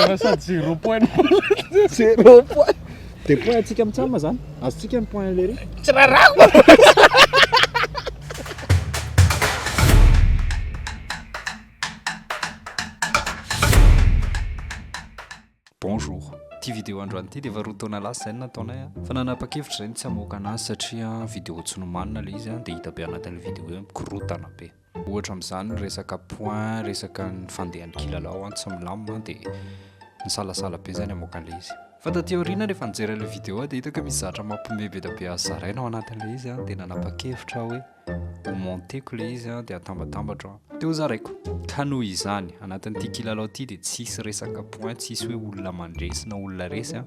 Tena sady zero point no Zero point. Dia point antsika mitsam zany. Azontsika ny point à l'heure. Tsy rarako. Bonjour. Ity vidéo androany ity dia efa roa taona lasa izay no nataonay a. Fa nanapa-kevitra izay ny tsy hamoaka anazy satria vidéo tsy nomanina ilay izy a, dia hita be anatin'ilay vidéo hoe mikorontana be. Ohatra amin'izany ny resaka points, resaka ny fandehan'ny kilalao an, tsy milamina an, dia nisalasala be izay ny hamoaka an'ilay izy. Fa taty aoriana rehefa nijery an'ilay vidéo aho dia hitako hoe misy zavatra mampiomehy be dia be azo zaraina ao anatin'ilay izy an, dia nanapa-kevitra aho hoe ho monter-ko ilay izy an, dia hatambatambatro an, dia ho zaraiko. Ka noho izany, anatin'ity kilalao ity dia tsy hisy resaka points, tsy hisy hoe olona mandresy na olona resy an,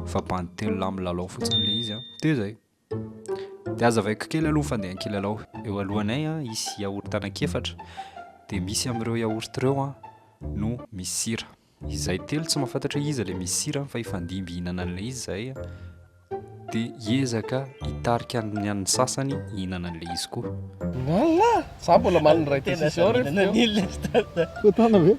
fa bandy telo lahy milalao fotsiny ilay izy an, dia izay. Dia aza avaiko kely aloha ny fandehan-kilalao. Eo alohanay an, hisy yaourt anankiefatra, dia misy amin'ireo yaourt ireo an no misy sira. Izahay telo tsy mahafantatra hoe iza ilay misy sira fa hifandimby hihinana an'ilay izy izahay an, dia hiezaka hitarika ny an'ny sasany hihinana an'ilay izy koa. Lalà! Izaho mbola omaly niray decision reto teo. Koa tana ve?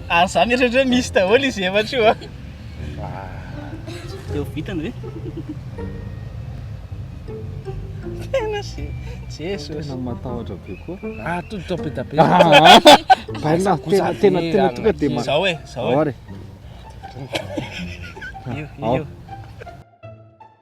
Ary za mieritreritra hoe misy daholo izy efatra io an. Efa vitany ve? Tena se Jesosy. Tena matahotra be koa. Ah tout top et tapé. Baina tena tena tena tonga de ma. Zao e, zao e. Io, io.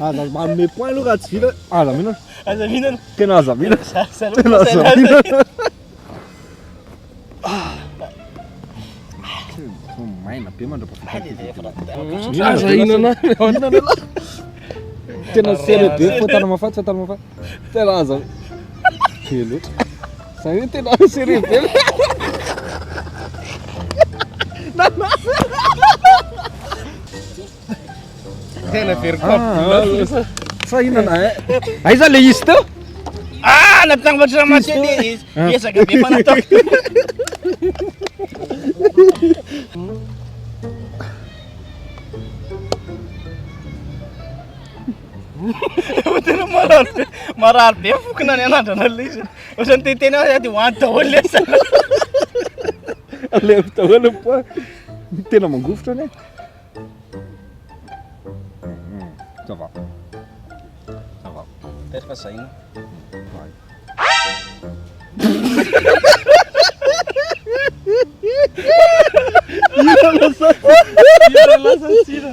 Aza manome point aloha raha tsy vita, aza mihinana. Aza mihinana. Tena aza mihinana. Tena aza mihinana. Maina be mandrapafita. Aza hihinana. Tena serré be, fohy tana mafaty, fohy tana mafaty. Tena aza. Felo. Zay hoe tena serré be. Tena very cop. Sa inona eh? Aiza le izy teo? Ah, natambatra maty le izy. Ezaka be fanatao. Tena marary be. Marary be fokona ny anandrana le izy. Ohatrany te tena aho de hoany daholo le sa. Aleo daholo po. Tena mangofotra ne. Hmm, ça va. Ça va. Petraka saina. Ira lasa tsira. Ira lasa tsira.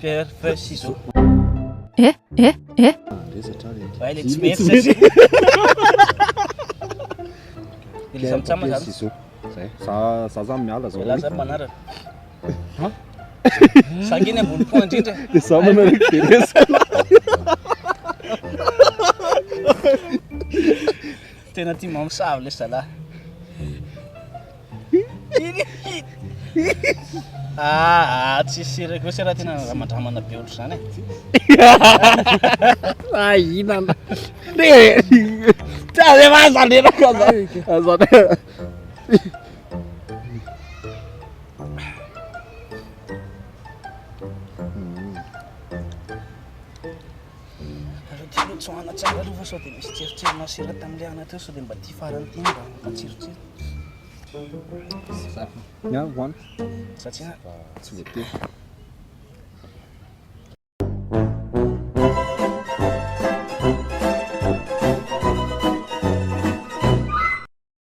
Pierre Feuille Ciseaux. Eh eh eh. Vai le tsy mety sasy. Ilay samy tsama zany. Ciseaux. Zay. Za za zany miala zao. Laza ny manaraka. Ha? Sanginy ambony po indrindra. Dia za manaraka dia resaka. Tena tia mamosavy le zalahy. Ah, ah, tsy sira koa sira tena ramandramana be ohatra zany e. Ah, inana. Re. Tsa re va zany re ka zany. Azana. Nareo ty aloha tsoahana tsara aloha fa sao dia misy tsirotsiro masera tamin'ilay anatra eo sao dia mba ity farany ity mba mampatsirotsiro. Nga voan. Satsia. Tsy voatery.